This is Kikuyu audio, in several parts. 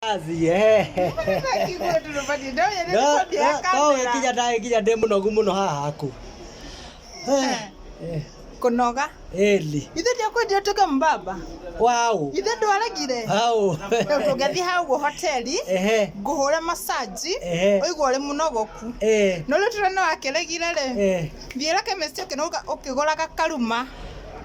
Athi, eh. No, no, no, wĩkinya nda- wĩkinya ndĩ mũnogu mũno haha haku Eh, eh, kunoga eli ithe ndiakwendia utuke mbaba wau ithe ndwaregire au ndũngĩthiĩ hau guo hoteli ehe ngũhũre masaji Ehe. ũigua ũrĩ mũnogoku eh no rĩu tũrĩ nĩ wakĩregire rĩ eh Thiera chemist ũkĩnũga ũkĩgũraga karuma.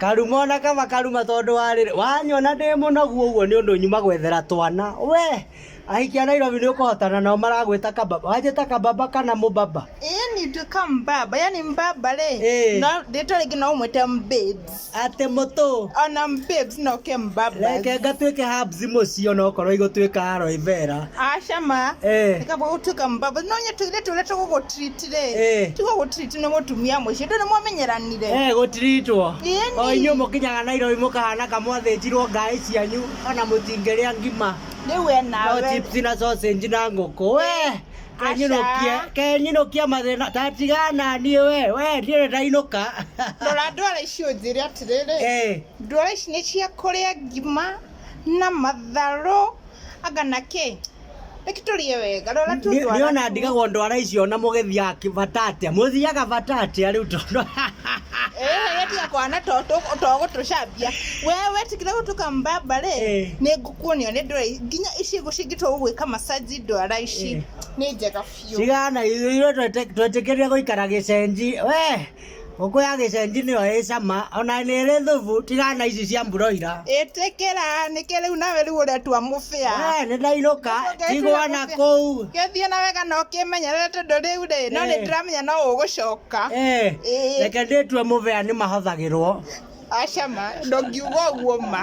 Karuma ona kaba karuma tondũ warĩrĩ wanyona ndĩ mũnogu ũguo nĩ ũndũ nyuma gwethera twana we ahiki a Nairobi nĩ ũkũhotana nao maragwĩta kababa wanjĩta kababa kana mũbaba yani nduĩka mbaba yani mbaba rĩ no rĩtwa rĩngĩ no ũmwĩte mbabes Ate mũtũ. Ona babes no ke mbabas. Reke ngatuĩke herbs mũciĩ ona okorwo igũtuĩka aloe vera. Aca ma. Eh. Reka gũtuĩka mbabas. No nyetũire tũire tũgũgũtreat rĩ. Eh. Tiga gũtreat nĩ mũtumia mũciĩ. Ndũrĩ mwamenyeranire. Eh, gũtiritwo. Ĩni. O inyuĩ mũkinyaga Nairobi mũkahana kamwathĩnjirwo ngaĩ cianyu ona mũtingĩrĩa ngima. Rĩu we No nawe. chips na sausage na ngũkũ. We, kenyinokia Aca. kenyinokia mathina tatigana niĩ we we ndiĩ ndainũka rora ndwara ici ũnjĩre atĩrĩrĩ Eh, ndwara ici nĩ cia kũrĩa ngima na matharũ anga na kĩ reke tũrĩe wega rora tu nĩ- ndwara nĩona tu. ndigagwo ndwara icio na mũgĩthiaga kĩ- bata atĩa mũthiaga bata atĩa rĩu tondũ Eh, tiga kwana to to- to gũtũcambia we wetigire gũtuka mbamba rĩ Eh. nĩ ngũ- kuonio nĩ ndwara nginya ici ngũ cingĩtwo gũgwĩka massage ndwara ici Eh. nĩ njega biũ cigana ithuĩ twete- twetĩkĩrire gũikara gĩcenji we ngũkũ ya gĩcenji nĩyo ĩ cama ona nĩ ĩrĩ thubu tigana ici cia mburoira ĩtĩkĩra nĩkĩ rĩu nawe rĩu ũretua mũbĩa we nĩ ndainũka Ũngĩtira tigwa na mũbĩa. kũu gĩthiĩ na wega na ũkĩmenyerere tondũ rĩu rĩ no nĩ Eh. ndĩramenya no ũgũcoka Eh, Ĩĩ. reke ndĩtue mũbĩa nĩ mahũthagĩrwo Aca ma, ndũngiuga ũguo ma.